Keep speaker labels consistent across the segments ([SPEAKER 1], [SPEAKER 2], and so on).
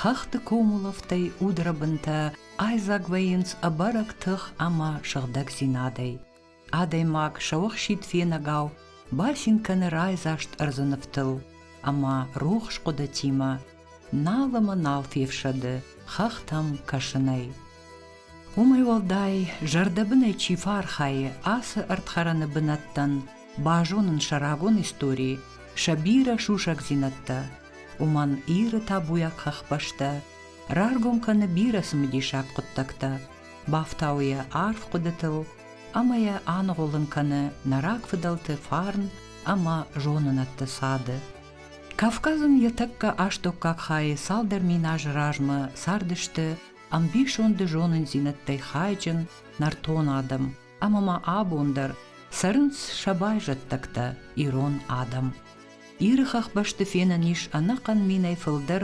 [SPEAKER 1] Хӕхты комулӕфтӕй удрӕбынтӕ айдзаг вӕййынц ӕбӕрӕг тых ӕмӕ сыгъдӕгдзинадӕй. Адӕймаг сӕуӕхсид фенӕгау бацин кӕны райдзаст ӕрдзы нывтыл ӕмӕ рухс хъуыдытимӕ нал ӕмӕ нал фефсӕды хӕхтӕм кӕсынӕй. Уымӕй уӕлдай, зӕрдӕбынӕй чи фӕархайы ацы ӕрдхӕрӕны бынӕттӕн базонын сӕ рагон истори, сӕ бирӕ сусӕгдзинӕдтӕ, уымӕн Иры табуйаг хӕхбӕстӕ раргом кӕны бирӕ цымыдисаг хъуыддӕгтӕ, бафтауы йӕ арф хъуыдытыл ӕмӕ йӕ аныгъуылын кӕны нӕ рагфыдӕлты фарн ӕмӕ зонынӕдты цады. Кавказ ын йӕ тӕккӕ астӕуккаг хайы цалдӕр миназы размӕ цардысты ӕмбисонды зонындзинӕдтӕй хайджын нӕртон адӕм ӕмӕ ма абон дӕр цӕрынц сӕ байзӕддӕгтӕ ирон адӕм. Иры хӕхбӕсты фенӕн ис ӕнӕхъӕн минӕй фылдӕр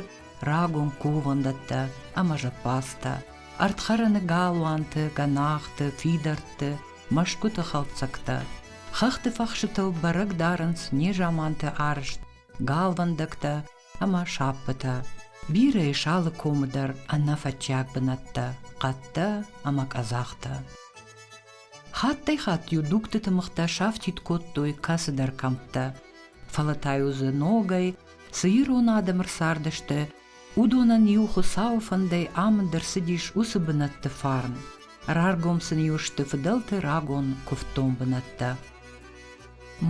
[SPEAKER 1] рагон кувӕндӕттӕ ӕмӕ зӕппадзтӕ, ӕрдхӕрӕны галуанты, гӕнахты, фидӕртты, мӕсгуыты хӕлцӕгтӕ. Хӕхты фӕхсытыл бӕрӕг дарынц незаманты арызт галвӕндӕгтӕ ӕмӕ сӕппытӕ. Бирӕ ис алы комы дӕр ӕнӕфӕтчиаг бынӕттӕ, хъӕдтӕ ӕмӕ къӕдзӕхтӕ. Хаттӕй-хатт-иу дугтыты мыхтӕ сафтид кодтой кӕцыдӕр кӕмттӕ, фӕлӕ та-иу дзы ногӕй цы ирон адӕм ӕрцардысты, уыдонӕн иу Хуыцауы фӕндӕй амынд ӕрцыдис уыцы бынӕтты фарн. Раргом сын-иу сты фыдӕлты рагон куывддон бынӕттӕ.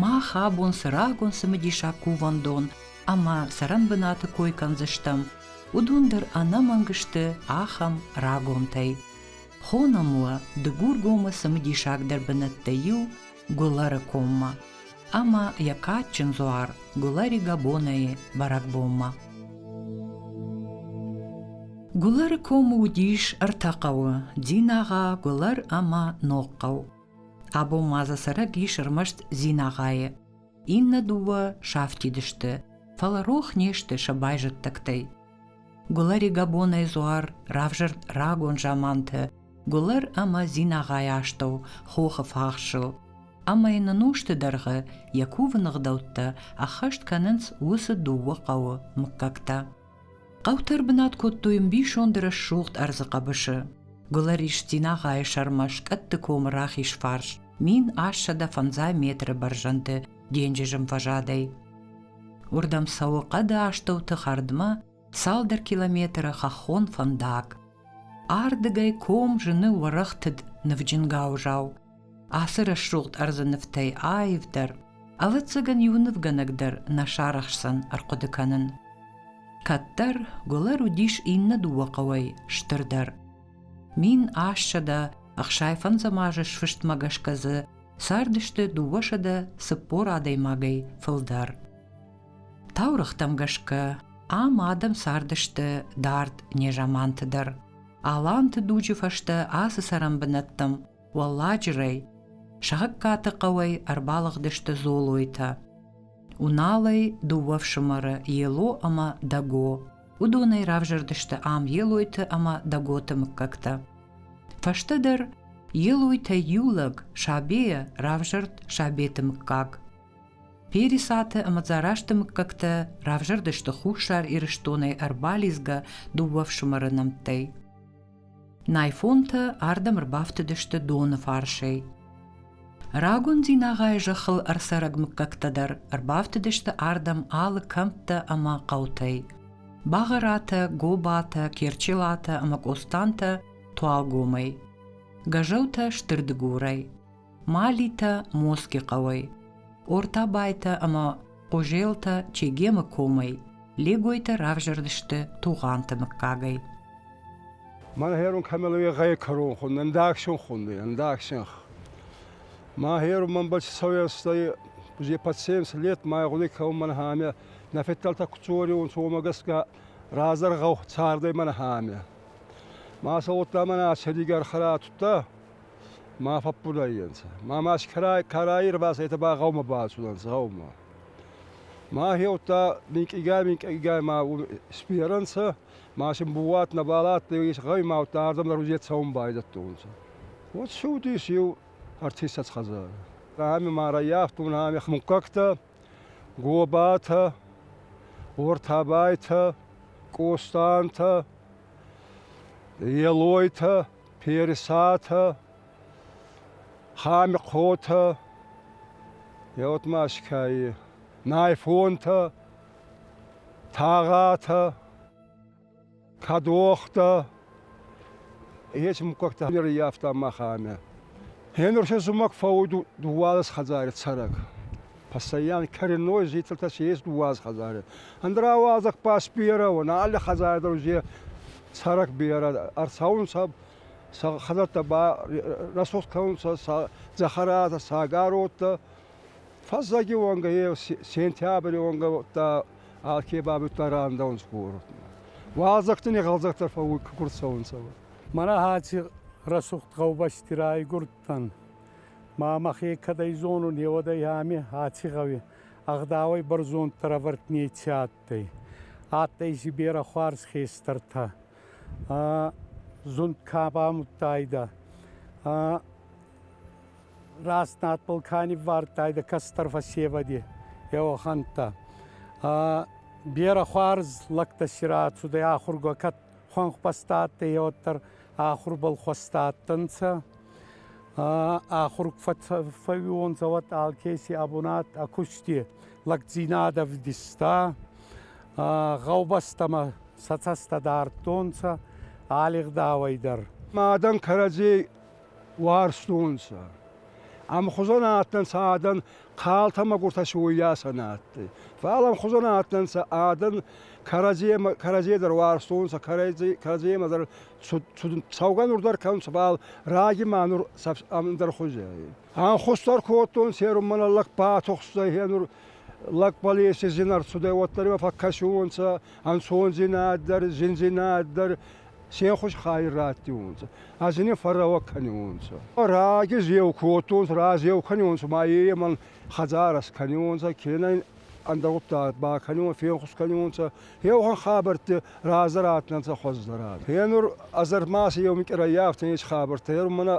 [SPEAKER 1] Мах абон цы рагон цымыдисаг кувӕндон ӕмӕ цӕрӕнбынаты кой кӕндзыстӕм, уыдон дӕр ӕнӕмӕнг сты ахӕм рагонтӕй. Хонӕм уӕ Дыгургомы цымыдисагдӕр бынӕттӕй иу Гулӕры коммӕ ӕмӕ йӕ кадджын дзуар Гулӕри Габонайы бӕрӕгбонмӕ. Гулӕры комы уыдис ӕртӕ хъӕуы: Динагъа, Гулӕр ӕмӕ Ногхъӕу. Абон ма дзы цӕрӕг ис ӕрмӕст Зинагъайы. Иннӕ дыууӕ сафтид сты, фӕлӕ рох не сты сӕ байзӕддӕгтӕй. Гулӕри Габонӕй Зуар равзӕрд рагон заманты Гулӕр ӕмӕ Зинагъайы астӕу хохы фахсыл, ӕмӕ йын ын усты дӕргъы йӕ кувыны гъдӕуттӕ ӕххӕст кӕнынц уыцы дыууӕ хъӕуы мыггӕгтӕ. Хъӕуты ӕрбынат кодтой ӕмбисонды рӕсугъд ӕрдзы хъӕбысы. Гуылӕрис Динагъайы сӕрмӕ скъӕтты комы рахиз фарс, мин ассӕдӕ фӕндзай метры бӕрзӕнды денджызым фӕзадӕй. Уырдӕм цӕуы хъӕды астӕуты хӕрдмӕ цалдӕр километры хӕххон фӕндаг. Ардыгӕй ком зыны уӕрӕхтыд нывджын гауызау, Ацы рӕсугъд ӕрдзы нывтӕй аивдӕр, ӕвӕццӕгӕн иу нывгӕнӕг дӕр нӕ сарӕхсдзӕн ӕрхъуыды кӕнын. Кӕддӕр Гуылӕр уыдис иннӕ дыууӕ хъӕуӕй стырдӕр. Мин ассӕдӕ ӕхсайфӕндзӕм азы сфыстмӕ гӕсгӕ дзы цардысты дыууӕсӕдӕ цыппор адӕймагӕй фылдӕр. Таурӕгътӕм гӕсгӕ ам адӕм цардысты дард незаманты дӕр. Аланты дуджы фӕстӕ ацы цӕрӕн бынӕттӕм Уӕлладжырӕй сагъӕгкаты хъӕуӕй ӕрбалыгъдысты Золойтӕ. Уналӕй дыууӕ фсымӕры Ело ӕмӕ Дӕго. Уыдонӕй равзӕрдысты ам Елойты ӕмӕ Дӕготы мыггӕгтӕ. Фӕстӕдӕр Елойтӕй иу лӕг, Сабейӕ, равзӕрд Сабеты мыггаг. Пересаты ӕмӕ Дзарасты мыггӕгтӕ равзӕрдысты Хуссар Ирыстонӕй ӕрбалидзгӕ дыууӕ фсымӕры нӕмттӕй. Найфонтӕ ардӕм ӕрбафтыдысты доны фарсӕй. Рагон Дзинагъайы зӕххыл ӕрцӕрӕг мыггӕгтӕ дӕр ӕрбафтыдысты ардӕм алы кӕмттӕ ӕмӕ хъӕутӕй. Бӕгъӕратӕ, Гобатӕ, Керчелатӕ ӕмӕ Къостантӕ туалгомӕй, Гӕзӕутӕ стыр дыгурӕй. Малитӕ Моски хъӕуӕй, Ортабайтӕ ӕмӕ Хъузелтӕ Чегемы комӕй, Легойтӕ равзӕрдысты Тугъанты мыггагӕй.
[SPEAKER 2] Мӕн хӕрун кӕмӕлуе гъӕй кӕрон хун, ӕндагсен хунди, ӕндагсен. Мӕ хӕрун мӕн бачи цӕуӕстӕй, бузе пациенс лет май гъуди кӕун мӕн хӕме, нӕ феттӕлтӕ куцориун цома гӕсгӕ разӕр гъӕу цардӕй мӕн хӕме. Мӕ сауодта мӕн ацӕригар хара тутта, ма фӕббураййанцӕ. Ма ма карӕй ӕрбацӕйтӕ ба гъӕумӕ бацудӕнцӕ гъӕумӕ. Ма хеудта минкъийгай-минкъийгай ма сберӕнцӕ, ма син бууат нӕбал адтӕй, гъӕумӕуттӕ ардӕм дӕр цӕун байдӕдтонцӕ. Уод цудис еу артистац хӕдзарӕ. Ами ма раййафтон ами муггӕгтӕ, гобатӕ, ортабайтӕ, къостантӕ, елойтӕ. Персатӕ, Хамхъотӕ, Еотмӕскӕйи, Найфонтӕ, Тагъатӕ, Кадохтӕ. Ечи муккӕгтӕ ӕрййафта махӕмӕ. Гьенур се зумӕг фӕууй дууӕлес хӕдзари цӕрӕг. Пассайян кӕрӕной зицӕлтӕ се ес дууаз хӕдзари. Ӕндра уазӕг ба сберӕ уона, алли хӕдзари дӕр узе цӕрӕк берӕ ӕрцӕунцӕ, сӕ хӕдзӕттӕ ба рӕсугъд кӕнунцӕ сӕ дзӕхӕратӕ, сӕ ӕгӕроттӕ. Фӕззӕги уонгӕ е сентябри уонгӕ удта алке бабудта рандӕунцӕ городмӕ. Уазӕгтӕн егъӕлдзӕгтӕ фӕууй кугурд цӕунцӕ. Мӕнӕ
[SPEAKER 3] аци рӕсугъд гъӕубӕсти райгурд адтан. Ма мӕхе кӕдӕй зонун, еуӕдӕй ами аци гъӕуи ӕгъдауӕй бӕрзонддӕр ӕвӕрд неци адтӕй. Адтӕй си берӕ хуарз хестӕртӕ. Зунд ка бамудтайдӕ, раст надбӕл ка ниввардтайдӕ кӕстӕр фӕсевӕди, еуӕхӕнтӕ. Берӕ хуарз лӕгтӕ си рацудӕй ахургӕ хуӕнхбӕстӕ адтӕй, уӕддӕр ахурбӕл хуӕстӕ адтӕнцӕ. Ахур фӕууонцӕ уӕд алкеси ӕ бунат ӕ кусти лӕгдзийнадӕ вдиста. Гъӕубӕстӕмӕ сӕ цӕстӕ дардтонцӕ алигъдауӕй дӕр. Адӕн
[SPEAKER 2] кӕрӕдзей уарзтонцӕ. Ӕма хузӕн адтӕн сӕ адӕн Хъалтӕ мӕгуртӕ си уоййасӕ нӕ адтӕй. Фал ӕмхузон адтӕнцӕ адӕн кӕрӕдземӕ кӕрӕдзей дӕр уарзтонцӕ, кӕрӕдземӕ дӕр цӕугӕ нур дӕр кӕнунцӕ, фал раги ма нур ӕндӕр хузи ӕй. Ӕнхус дӕр кодтон, серун мӕнӕ лӕг батухстӕй, е нур лӕг Балеси зин ӕрцудӕй, уӕддӕр имӕ фӕккӕсиуонцӕ ӕнцондзийнад дӕр, зиндзийнад дӕр, се хус хайи раттиунцӕ, ӕз ин фӕррӕуӕ кӕниунцӕ. Раги зеу кодтонцӕ, разеу кӕниунцӕ, ма емӕн хӕдзарӕ скӕниунцӕ, кенӕ ӕндӕгъуддаг бакӕниуон, фенхус кӕниунцӕ. Еугъон хабӕртти разӕ раттӕнцӕ хуӕздӕрад. Енур Азӕрмӕ си еу минкъи раййафтӕн ес хабӕрттӕ. Енур мӕнӕ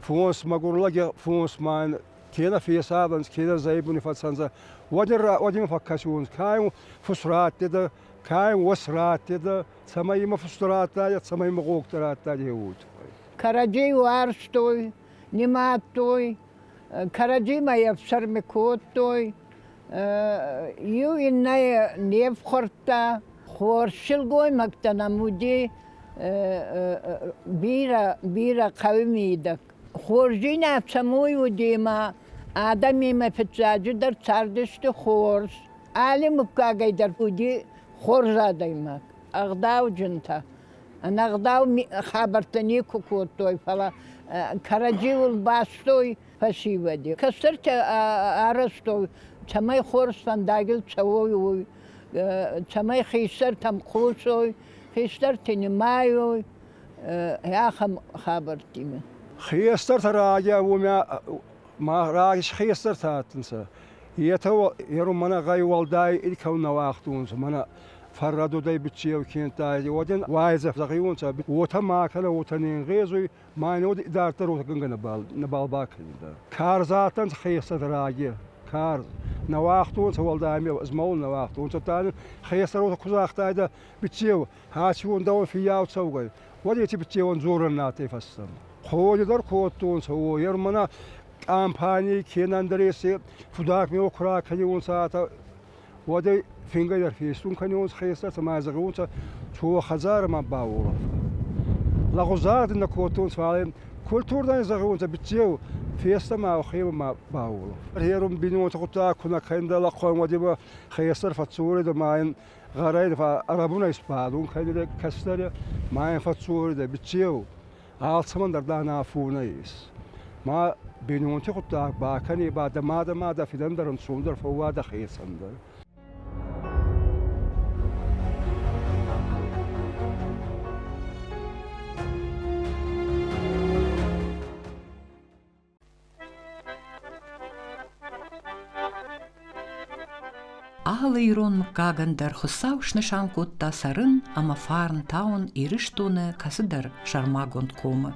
[SPEAKER 2] фонс, мӕгур лӕги фонс ма ин кенӕ фесавӕнцӕ, кенӕ зӕйбуни фӕцӕнцӕ. Уӕд ин фӕккӕсиуонцӕ, ка ин фус раттедӕ, ка ин уос раттедӕ, цӕмӕй имӕ фустӕ радтайа, цӕмӕй имӕ гъогтӕ радта деуой туххӕй. Кӕрӕдзей
[SPEAKER 4] уарзтой, нимадтой, кӕрӕдзимӕ ефсӕрми кодтой, иу иннӕйӕ не фхуӕрдта. Хорз силгоймӕгтӕ нӕм уди бирӕ, бирӕ хъӕуи мидӕг. Хорздзинад цӕмӕй уди ма адӕмимӕ фиццаджыдӕр цардысты хорз. Али муггагӕй дӕр уди хорз адӕймаг, ӕгъдауджынтӕ. Ӕнӕгъдау хабӕрттӕ никуы кодтой, фӕлӕ кӕрӕдзиуыл бастой фӕсивӕды. Кӕстӕртӕ арӕзтой, цӕмӕй хорз фӕндагыл цӕуой, уый, цӕмӕй хистӕртӕм хъусой, хистӕрты нымайой, ахӕм хабӕрттимӕ. Хестӕртӕ
[SPEAKER 2] райа уомӕ ма хестӕртӕ адтӕнцӕ. Етӕ ерун мӕнӕ гъӕй уӕлдай иккӕу нӕ уагътонцӕ. Мӕнӕ фӕррӕдодӕй битти еу кенттӕ, уоден уайдзӕ флӕгиуонцӕ, уотӕ ма кӕнӕ уотӕ ненгъезуй, ма нод идарддӕр уотӕгӕнгӕ нӕбал бакӕнидӕ. Карз адтӕнцӕ хецӕн раги, карз. Нӕ уагътонцӕ уӕлдай ме змӕлун нӕ уагътонцӕ, та хецӕн уотӕ ку загътайдӕ, битти еу, аци уон дӕуӕн фиййау цӕугӕй, Уӕд еци битеуон дзорӕн натӕй фӕстӕ. Ходи дӕр кодтонцӕ, уой мӕнӕ компании кенӕ ӕндреси фудак мео ку ракӕниуонцӕ, уӕдӕй фингӕй дӕр фестун кӕниуонцӕ хестӕр, цӕмӕй зӕгъиуонцӕ, то хӕдзарӕ ма бауолӕфа. Лӕгъузар дин нӕ кодтонцӕ, фал культурдани зӕгъиуонцӕ, битеу фестӕмӕ охебӕ ма бауолӕф. Гъерун бинонтӕ гъуддаг ку нӕ кӕндӕ лӕхъуӕн, уӕди ба хестӕр фӕццоридӕ ма ин Гъарӕй ба ӕрӕбунӕй сбадун кӕнидӕ кӕстӕрӕ ма ин фӕццоридӕ биццеу, алцӕмӕн дӕр дӕ нӕ афонӕ ес. Ма бийнонти гъуддаг бакӕне ба дӕ мадӕ ма дӕ фидӕн дӕр ӕнцондӕр фӕууадӕ хецӕн дӕр.
[SPEAKER 1] Алы ирон мыггагӕн дӕр Хуыцау снысан кодта цӕрын ӕмӕ фарн тауын Ирыстоны кӕцыдӕр сӕрмагонд комы.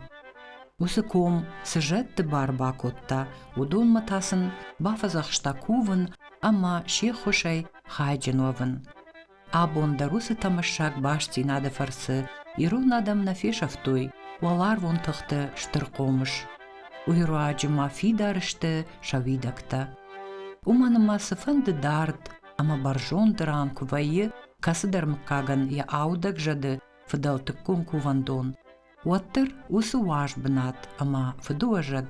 [SPEAKER 1] Уыцы ком цы зӕдты бар бакодта, уыдонмӕ та сын бафӕдзӕхста кувын ӕмӕ се ххуысӕй хайджын уӕвын. Абон дӕр уыцы тӕмӕссаг бастдзинады фӕрцы ирон адӕм нӕ фесӕфтой уӕларвон тыхты стыр хъомыс. Уый руаджы ма фидар сты сӕ уидӕгтӕ. Уымӕн ӕмӕ цыфӕнды дард ӕмӕ бӕрзонд ран куы вӕййы, кӕцыдӕр мыггагӕн йӕ аудӕг зӕды фыдӕлтыккон кувӕндон, уӕддӕр уыцы уаз бынат ӕмӕ фыдыуӕзӕг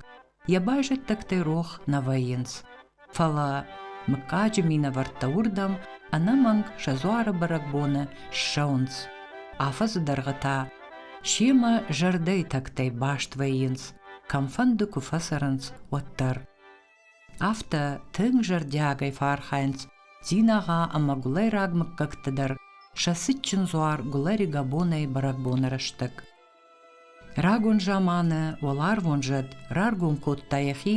[SPEAKER 1] Йӕ байзӕддӕгтӕй рох нӕ вӕййынц. Фӕлӕ мыггаджы минӕвӕрттӕ уырдӕм ӕнӕмӕнг сӕ дзуары бӕрӕгбоны ссӕуынц. Афӕдзы дӕргъы та семӕ зӕрдӕйы тӕгтӕй баст вӕййынц, кӕмфӕнды куы фӕцӕрынц, уӕддӕр. Афтӕ тынг зӕрдиагӕй фӕархайынц Дзинаға ӕмӕ гуылайраг мыггӕгты дӕр сӕ цытджын дзуар Гуылари-Габонӕйы бӕрӕгбоны рӕстӕг. Рагон заманы уӕларвон зӕд раргом кодта йӕхи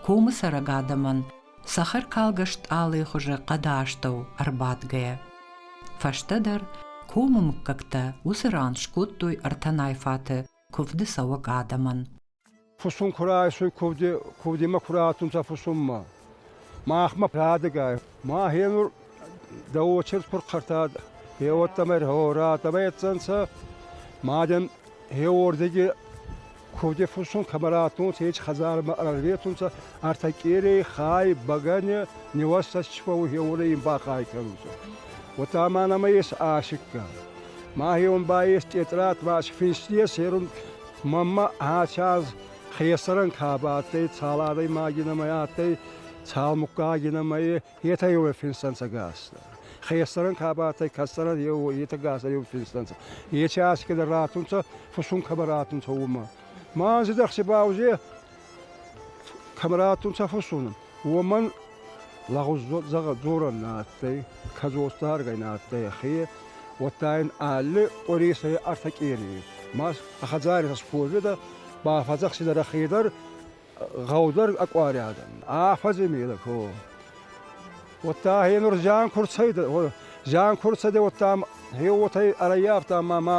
[SPEAKER 1] комы цӕрӕг адӕмӕн, цӕхӕркалгӕ стъалыйы хуызы хъӕды астӕу ӕрбадгӕйӕ. Фӕстӕдӕр комы мыггӕгтӕ уыцы ран скодтой ӕртӕ найфаты куывды цӕуӕг адӕмӕн. Фусун
[SPEAKER 2] ку райсуй, кувдимӕ ку раттунцӕ фусунмӕ. Махмӕ рӕдегӕй. Махе нур дӕ очерк пурхъӕртад, е уодтамӕй радтамӕ ецӕнцӕ. Маден е уордеги кувди фусун кӕмӕ раттунцӕ, еч хӕдзармӕ ӕрветунцӕ, ӕртӕ къерей, хай, бӕгӕне, неваста си фӕууй, е уорӕ ин бахай кӕнунцӕ. Уотӕ ма нӕмӕ ес асикка. Махе ун ба ес тъетърат, ваш финсти ес, е рун Мамма аци аз хесӕрӕн ка ба адтӕй, цал адӕймаги нӕмӕ адтӕй, цал муггаги нӕмӕ, етӕ еу финстӕнцӕ гӕстӕ. Хесӕрӕн ка ба адтӕй, кӕсӕрӕн еу, етӕ гӕстӕ еу финстӕнцӕ. Ечи аз кедӕр раттунцӕ, фусун кӕмӕ раттунцӕ, уомӕ. Ма анзи дӕхси ба узе Температур сӕ фӕссунун, уомӕн лӕгъуз дзорӕн нӕ адтӕй, кӕдзости харгӕй нӕ адтӕй ӕхе, уӕдта ин алли къури сӕ ӕртӕ къерей. Ма ӕ хӕдзари сӕ схозидӕ, ба фӕдзӕхсидӕ ӕхе дӕр гъӕудӕр ӕ къуариадӕн. Афӕдзи медӕ ко. Уӕдта ӕхе нур зиан ку рцӕйдӕ, зиан ку рцӕйдӕ, уӕдта ӕм, ӕ уотӕ ӕрӕййафта ма ма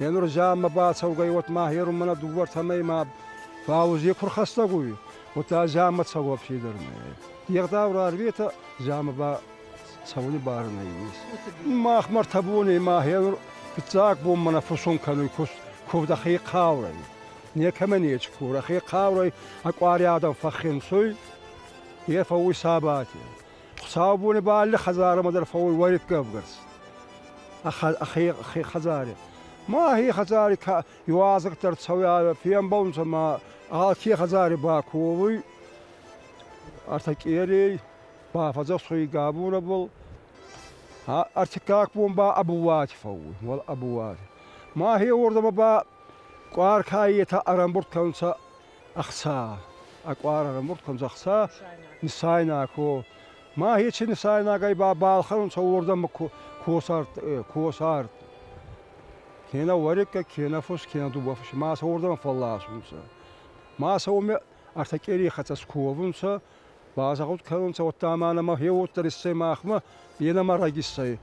[SPEAKER 2] Енурзаммӕ бацӕугӕй уотмӕ херунмӕ нӕ дууӕртӕмӕй ма фаузи ку рхӕстӕг уй, удта заммӕ цӕуӕ федӕр нӕй. Егъдау рарветӕ заммӕ ба цӕуни бар нӕййес. Мах мартӕ бонӕй ма хенур фиццаг бонмӕ нӕ фусун кӕнуй кувд хе хъаурӕй. Некӕмӕ нечи курӕ, хе хъаурӕй ӕ къуари адӕм фӕххенсуй, е фӕууй сабати. Хуцаубони ба алли хӕдзарӕмӕ дӕр фӕууй уӕриккӕ ӕвгарс. Ӕхе хӕдзари. Ма хе хӕдзари иуазӕгтӕ ӕрцӕуя, фембӕлунцӕ ма алке хӕдзари баковуй артакъерей, бафӕдзӕхсуй габунабӕл. Артиккаг бон ба ӕбуати фӕууй, уал ӕбуати. Ма хе уордӕмӕ ба къуаркайетӕ ӕрӕмбурд кӕнунцӕ ӕхца, ӕ къуар ӕрӕмурдтонцӕ ӕхца нисайнаг ко. Ма ечи нисайнагӕй ба балхӕнунцӕ уордӕмӕ косарт. Кенӕ уӕриккӕ, кенӕ фус, кенӕ дубафус ма сӕ уордӕмӕ фӕлласунцӕ. Ма сӕ уоми ӕртӕ къерей хӕццӕ сковунцӕ, Базагъуд кӕнунцӕ уӕдта ма нӕмӕ е уоддӕр иссӕй махмӕ, е нӕмӕ раг иссӕй.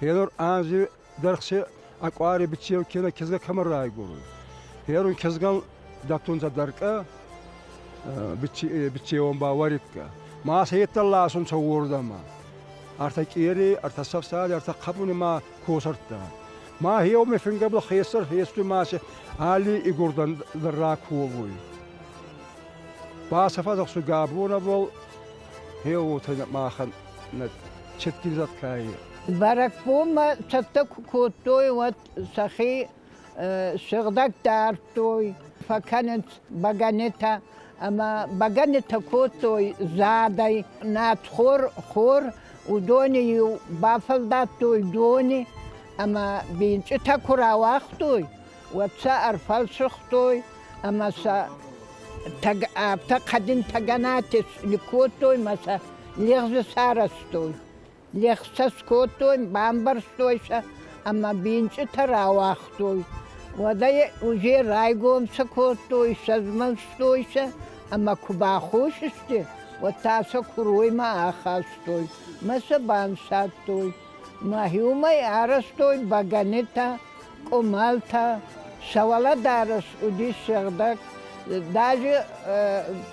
[SPEAKER 2] Е нур анзи дӕргъци ӕ къуари биццеу кенӕ кизгӕ кӕмӕ райгурун. Е нур кизгӕн дӕттунцӕ дӕркъӕ, биццеуон ба уӕриккӕ. Ма сӕййеддӕр ласунцӕ уордӕмӕ. Ӕртӕ къери, ӕртӕ сӕфсади, ӕртӕ хъӕбуни ма косӕрдта. Ма еуми фингӕбӕл хецӕр хецуи ма си алли игурдӕн дӕр раковуй. Ба сӕ фӕдзӕхсуй Габоновыл, е уотӕ махӕн нӕ четкизат кайи. Бӕрӕгбонмӕ
[SPEAKER 4] цӕттӕ ку кодтой, уӕд сӕхи сыгъдӕг дардтой, фӕкӕнынц бӕгӕнитӕ ӕма бӕгӕнитӕ кодтой задӕй. Надхор, хор, уыдони-иу бафӕлдадтой дони ӕма бинчъитӕ ку рауагътой, уӕд сӕ ӕрфӕлсыгътой ӕмӕ сӕ афтӕ хъӕдын тӕгӕнатӕ кодтой ӕмӕ сӕ лӕгъзы сарӕзтой. Лӕгъз сӕ скодтой, бамбӕрзтой сӕ ӕмӕ бинчъытӕ рауагътой. Уӕдӕй уже райгом сӕ кодтой, сӕзмӕлстой сӕ ӕмӕ куы баххос сты, уӕд та сӕ куыроймӕ ахастой ӕмӕ сӕ банцадтой. Мӕхи уымӕй арӕзтой бӕгӕнитӕ, къуымӕлтӕ, сӕ уӕлӕдарӕс уыдис сыгъдӕг. Даже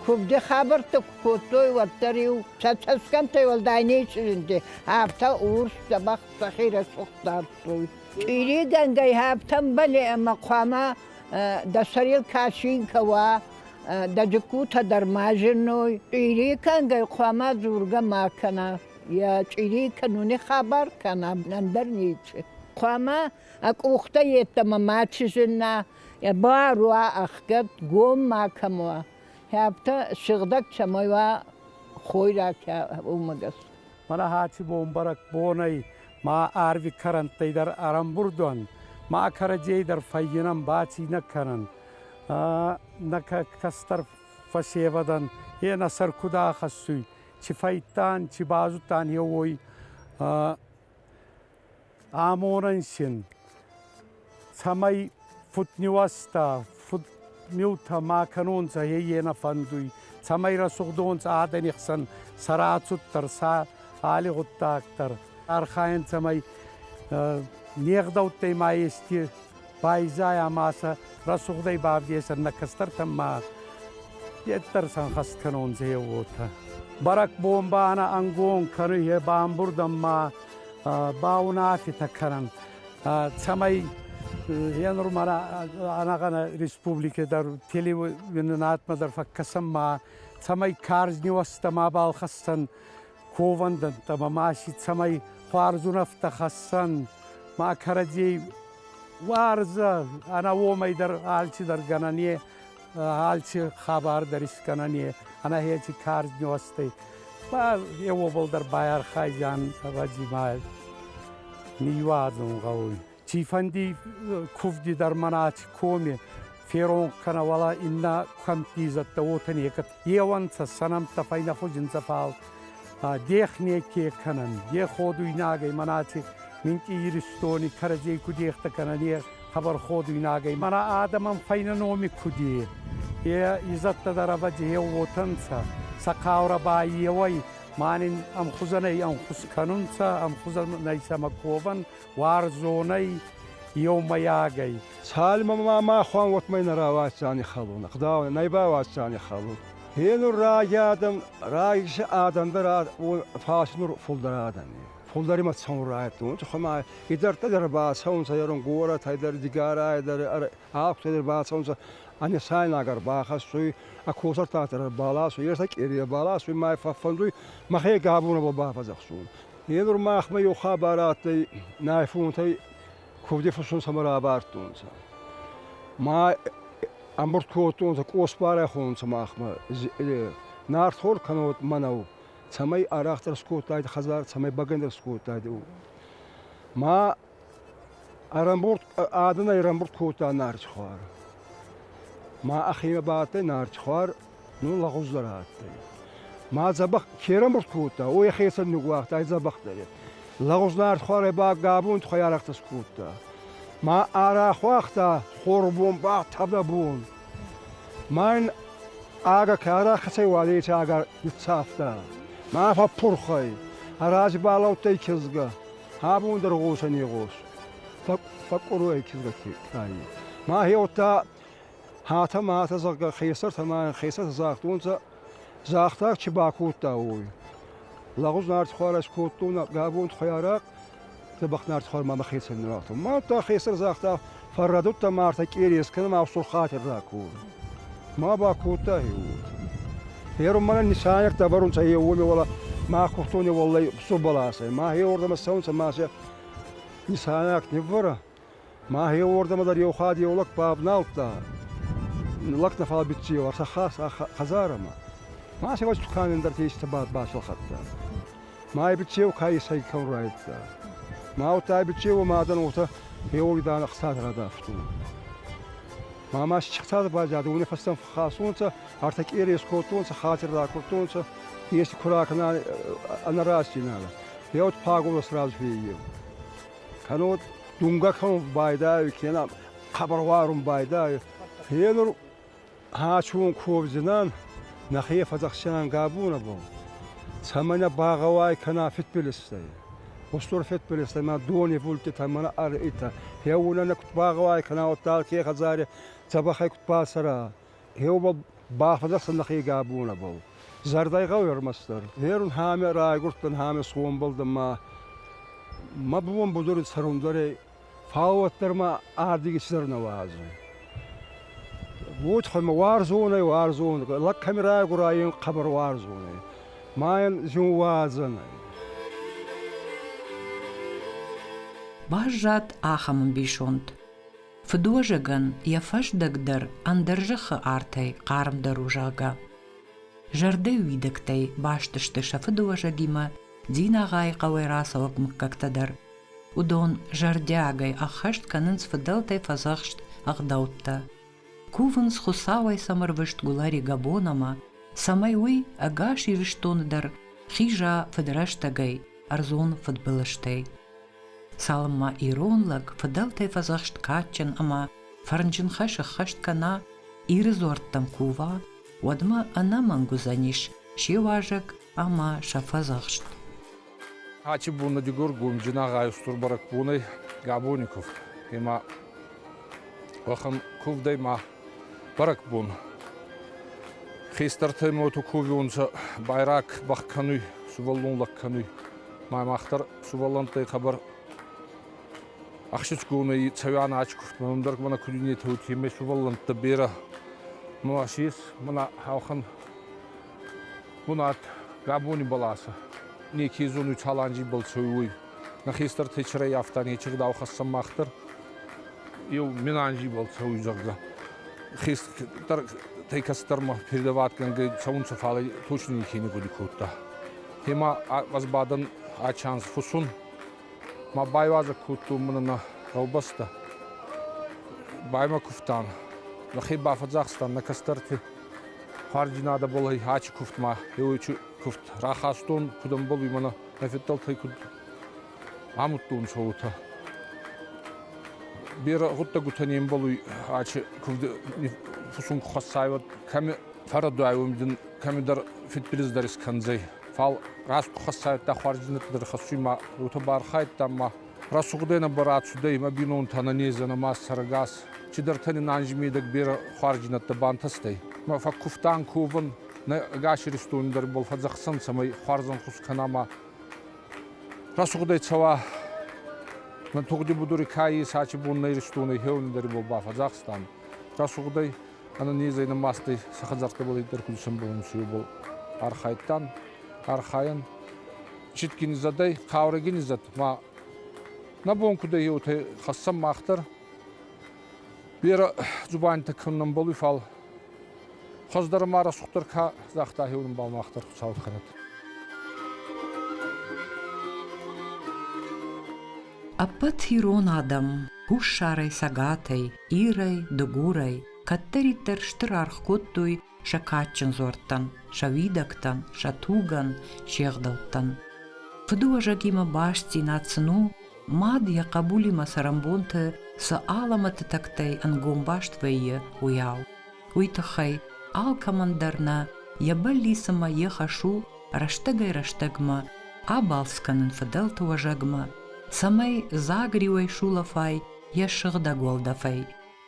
[SPEAKER 4] куывды хабӕрттӕ куы кодтой, уӕддӕр-иу сӕ цӕсгӕмттӕй уӕлдай не чъызынти, афтӕ урс дзӕбӕх сӕхи рӕсугъд дардтой. Чъиригӕнгӕй ӕфтӕнбӕле ӕмӕ хъуамӕ дӕ сӕрыл качинкӕ уа, дӕ джыккутӕ дӕр ма зыной. Чъирикӕнгӕй хъуамӕ дзургӕ ма кӕна. Йӕ чъири кӕнуни хабар кӕна, ӕндӕр ничи. Хъуамӕ а къухтӕ йеддӕмӕ ма чызына, йӕ бар уа ӕхгӕд, гом макӕм уа. Афтӕ сыгъдӕг цӕмӕй уа хойрагтӕ, уымӕ гӕсгӕ. Марахати
[SPEAKER 3] бон бӕрӕгбонӕй ма ӕрви кӕрӕнттӕй дӕр ӕрӕмбурд уӕн, ма кӕрӕдзей дӕр фӕййинӕн баци нӕ кӕнӕн. Нӕ кӕстӕр фӕсевӕдӕн е нӕ сӕр куд ахӕссуй, Чи фӕйттан, чи базудтан е уой амонӕн син, цӕмӕй фудниуӕзтӕ, фудмилтӕ ма кӕнонцӕ, е нӕ фӕндуй, цӕмӕй рӕсугъдонцӕ адӕни хсӕн сӕ рацуддӕр, сӕ алигъуддагдӕр. Архайӕн, цӕмӕй не гъдӕуттӕй ма ести Пайзай ӕма сӕ рӕсугъдӕй бавдесӕн нӕ кӕстӕртӕн ма деддӕр сӕнхӕст кӕнунцӕ е уотӕ. Бӕрӕгбон ба ӕнӕ ӕнгон кӕнуй, е бамбурдӕн ма баунӕфетӕ кӕнӕн. Цӕмӕй е нур мӕнӕ ӕнӕгъӕнӕ республики дӕр телевизионатмӕ дӕр фӕккӕсӕн ма, цӕмӕй карз ниуӕзтӕ мабал хӕссӕн, ковӕндӕнттӕ ма маси цӕмӕй хуарзунӕфтӕ хӕссӕн, ма кӕрӕдзей уарзӕ ӕна уомӕй дӕр алчидӕр гӕнӕн е алчи хабар дӕр искӕнӕн е ӕна хеци карз нюӕстӕй. Ба е уобӕл дӕр байархайдзан ӕвӕдзи ма ниуазун гъӕуй. Тифанди кувди дӕр манати коми феронх кӕна вала инна камти зӕттӕ уотӕ некӕд еуанцӕ сӕнӕмттӕ файнахузинцӕ фал дех неке кӕнӕн, де ходуйнагӕй манати минти Иристони кӕрӕдзей ку дехтӕ кӕнӕн е хабар ходуйнагӕй. Мана адӕмӕн файна номи куди е изӕттӕ дӕр ӕвӕдзееу уотӕнцӕ. Сӕ хъаурӕ ба еуӕй манин ӕмхузӕнӕй ӕнхус кӕнунцӕ, ӕмхузӕнӕй сӕмӕ ковӕн, Уарзонӕй, еумӕйагӕй. Цалмӕ ма
[SPEAKER 2] махуӕн уотмӕ нӕ рауадздзӕни хӕлун, ӕгъдауӕн нӕй бауадздзӕни хӕлун. Е нур раги адӕм, раги адӕн дӕр фарс нур фулдӕр адӕни. Фулдӕр имӕ цӕун райдтонци, хума идӕрдтӕ дӕр бацӕунцӕ, ерун горӕтӕй дӕр, Дигорай дӕр, Ахтутӕй дӕр бацӕунцӕ. Ани сайнаг ӕрбахӕссуй, ӕ косӕртатӕ ӕрбаласуй, ерсӕ къере ӕрбаласуй, мӕ фӕффӕндуй мӕхе габунабӕ бафӕдзӕхсун. Е нур махмӕ еу хабар адтӕй, нӕ фунтӕй кувди фусун цӕмӕ равардтонцӕ. Ма ӕмбурд кодтонцӕ, къосбарӕ хонцӕ махмӕ. Нартхор кӕнод мӕнӕу, цӕмӕй арӕхдӕр скодтайдӕ хӕдзар, цӕмӕй бӕгӕндӕр скодтайдӕ. Ма Адӕнӕй ӕрӕмбурд кодта нарчхуар. Ма ӕхемӕ ба адтӕй нарчхуар, нун лӕгъуздӕр адтӕй. Ма дзӕбӕх ке ӕрӕмбурд кодта, уой ӕхецӕн ниууагъта ӕ дзӕбӕхдӕре. Лӕгъуз нарчхуарӕй ба гӕбунти хуӕйарӕхтӕ скодта. Ма ӕрахуагъта хорбон ба тӕвдӕбон. Ма ин агӕ ке ӕрахӕцӕй уӕлейти ӕгӕр ниццавта. Ма фӕппурх ӕй, ӕ рази балӕудтӕй кизгӕ. Абон дӕр гъосӕн игъос фӕккъуруй кизгӕтти тайни. Мӕхе уодта хатӕ мӕтӕ, зӕгъгӕ, хесӕртӕ мӕ хесӕртӕ загътонцӕ, загъта, чи бакодта, уой. Лӕгъуз нартихуарӕс кодтон, гӕбон тухӕй арахъ, дзӕбӕх нартихуар мӕмӕ хецӕн нуратон. Мадта хесӕр загъта, Фӕррӕдудта ма ӕртӕ къерес кӕнӕ ма ӕфсур хатирдӕ ку. Ма ба кодта е уод. Ферун мӕнӕ нисанерт ӕвӕрунцӕ е уоми уала ма кохтони уоллай субаласӕй. Ма хе уордӕмӕ цӕунцӕ ма се нисанерт ниввӕрӕ. Ма хе уордӕмӕ дӕр еу хатт еу лӕг бавналдта. Лӕг нӕ фал биццева, ӕртӕ хас хӕдзарӕмӕ. Ма се васт кӕнен дӕр тестӕ бад басалхадта. Ма ибичеу каисӕй ку райдта. Маутӕ ибичеуи мадӕн уотӕ еуоидӕн ӕхцад радавтун. Ма ма счихтадӕ базадӕ уонӕфӕстӕн фӕххасунцӕ, ӕртӕ къерес кодтонцӕ, хатир ракурдтонцӕ, ести ку ракӕна ӕнӕ растдзинадӕ. Еуд пагулӕ сразу феййеу. Кӕнод думгӕ кӕнун байдайуй, кенӕ хъӕбӕрварун байдайуй. Е нур Ӕчун ковдзинан нӕхе фӕдзӕхсиан гӕбунӕ бон, цӕмӕй нӕ багъӕуай кӕна федбилизтӕй. Устур федбилизтӕй мӕ донивулдтитӕ мӕнӕ ӕръитӕ, хеуонӕ нӕ куд багъӕуай кӕна уӕдта алке хӕдзари дзӕбӕхӕй куд бацӕра. Хеу ба бафӕдзӕхсӕн нӕхе гӕбунӕбӕл. Зӕрдӕй гъӕуй ӕрмӕстдӕр, ерун ҳаме райгурдтан ҳаме сомбалдан ма мӕ бон будури цӕрундӕрӕй Фал уӕддӕр ма ардиги цидӕр нӕ уадзуй. Будь ма уарзон ӕй, уарзон, лӕгкӕми райгура ин хъӕбӕр уарзон ӕй. Ма ин зин уадзӕн ӕй.
[SPEAKER 1] Баззад ахӕм ӕмбисонд. Фыдуӕзӕгӕн йӕ фӕздӕг дӕр ӕндӕр зӕххы артӕй хъармдӕр у, зӕгъгӕ. Зӕрдӕ уидӕгтӕй баст сты сӕ фыдуӕзӕгимӕ, Динагъайы хъӕуӕй рацӕуӕг мыггӕгтӕ дӕр. Уыдон зӕрдиагӕй ӕххӕст кӕнынц фыдӕлтӕй фӕдзӕхст ӕгъдӕуттӕ. Кувынц Хуыцауӕй сӕм ӕрвыст Гулӕри Габонамӕ, цӕмӕй уый ӕгас Ирыстоны дӕр хиза фыдрӕстӕгӕй ӕрдзон фыдбылызтӕй. Цалынмӕ ирон лӕг фыдӕлтӕй фӕдзӕхст кадджын ӕмӕ фӕрнджын хӕс ӕххӕст кӕна, Иры дзуӕрттӕм кува, уӕдмӕ ӕнӕмӕнг уыдзӕнис се уазӕг ӕмӕ сӕ фӕдзӕхст.
[SPEAKER 5] Ачи бунна Дигор гумджин агъай устур бӕрӕгбонӕй Габони кувд. Ема уӕхӕн кувдӕй ма бӕрӕгбон. Хестӕртӕй моту кувионцӕ байраг бах кӕнуй, сувӕллон лӕг кӕнуй. Ма махтар сувӕллӕнттӕй хъӕбӕр ӕхсицгонӕй цӕуӕн ачи кувт, мӕнмдӕр мӕнӕ куд иннетӕ уотемӕй сувӕллӕнттӕ берӕ. Ма си ес мӕнӕ хаухан Бунат гӕбони бӕласӕ. Неке зонуй Чаланджи бӕл цӕуй, уой. Нӕ хестӕр Течерӕй афта нечи гъдау хӕссӕн мах дӕр. Еу Менанжи бӕл цӕуй, зӕгъгӕ. Хестӕр кӕцӕдӕрмӕ передаватгӕнгӕй цӕунцӕ, фал точно неке не гъуди кодта. Гьема ӕз бадӕн ӕ чанс фусун. Ма байвазӕг кодтон мӕнӕ нӕ гъӕубӕстӕ. Баймӕ кувтан. Нӕхе бафӕдзахстан нӕ кӕстӕрти Хӕрди надо было ачи куфтмӕ. Еуичи куфт рахастон, куд ӕмбал имӕ нӕ феддӕлтӕй куд амудтон уотӕ. Берӕ гъуддӕгутӕ не мбалуй ачи кувди фусунг хуӕццайвӕд. Кӕми фӕррӕдуайуй дин кӕмидӕр фидбилиздӕр искӕндзӕй. Фал раст ку хуӕццайдта, хуӕрди нӕдтӕдӕр хӕссуй ма уотӕ бархайдта ма Рӕсугъдӕй нӕ барадцудӕй имӕ бийнонтӕ нӕнездзӕнӕ ма сӕрӕгас, чидӕртӕ нин анзи медӕг берӕ хуарзийнӕдтӕ бантӕстӕй. Мӕ фӕккувтан ковун, нӕ ӕгас Иристони дӕр бал фӕдзӕхсӕн, цӕмӕй хуарзӕнхус кӕна ма рӕсугъдӕй цӕуа. Мӕ тугъди будури кайи сачи бон нӕ Иристонӕй хеуӕнидӕри бал бафӕдзахстан. Рӕсугъдӕй ӕнӕнезӕй нӕмастӕй сӕ хӕдзӕрттӕбӕл иддӕр куд исӕмбӕлунци, уобӕл архайдтан. Архайӕн Читкинизадӕй Хъаурӕгинизад ма нӕ бон куд ӕй уотӕ хӕссӕн мах дӕр. Берӕ дзубанитӕ кӕнунбӕл уй, фал хуӕздӕр ма рӕсугъддӕр ка загъта, хеуонбӕл мах дӕр Хуцауи хӕнӕт.
[SPEAKER 1] Ӕппӕт ирон адӕм, хуссарӕй, цӕгатӕй, ирӕй, дыгурӕй, кӕддӕриддӕр стыр аргъ кодтой сӕ кадджын дзуӕрттӕн, сӕ уидӕгтӕн, сӕ тугӕн, се гъдӕуттӕн. Фыдыуӕзӕгимӕ бастдзинад сын у, мад йӕ хъӕбулимӕ цӕрӕнбонты цы алӕмӕты тӕгтӕй ӕнгом баст вӕййы, уыйау. Уый тыххӕй алкӕмӕн дӕр нӕ йӕ бӕллиц ӕмӕ йе хӕс у рӕстӕгӕй-рӕстӕгмӕ абалц кӕнын фыдӕлты уӕзӕгмӕ, цӕмӕй дзаг риуӕй сулӕфай йӕ сыгъдӕг уӕлдӕфӕй,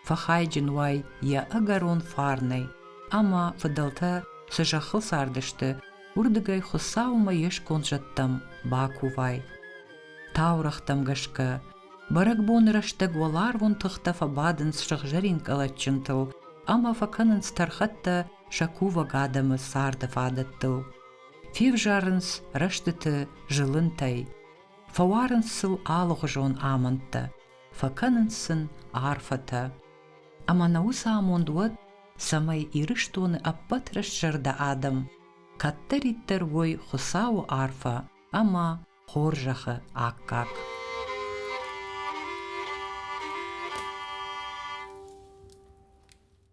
[SPEAKER 1] фӕхайджын уай йӕ ӕгӕрон фарнӕй, ӕмӕ фыдӕлтӕ цы зӕххыл цардысты, уырдыгӕй Хуыцаумӕ йе сконд зӕдтӕм бакувай. Таурӕгътӕм гӕсгӕ, бӕрӕгбоны рӕстӕг уӕларвон тыхтӕ фӕбадынц сыгъзӕрин къӕлӕтджынтыл ӕмӕ фӕкӕнынц тӕрхӕттӕ сӕ кувӕг адӕмы царды фадӕттыл. Февзарынц рӕстыты зылынтӕй, фӕуарынц сыл алыгъуызон амӕндтӕ, фӕкӕнынц сын арфӕтӕ. Ӕмӕ нӕ уыцы амонд уӕд, цӕмӕй Ирыстоны ӕппӕт рӕстзӕрдӕ адӕм кӕддӕриддӕр уой Хуыцауы арфӕ ӕмӕ хорзӕхы аккаг.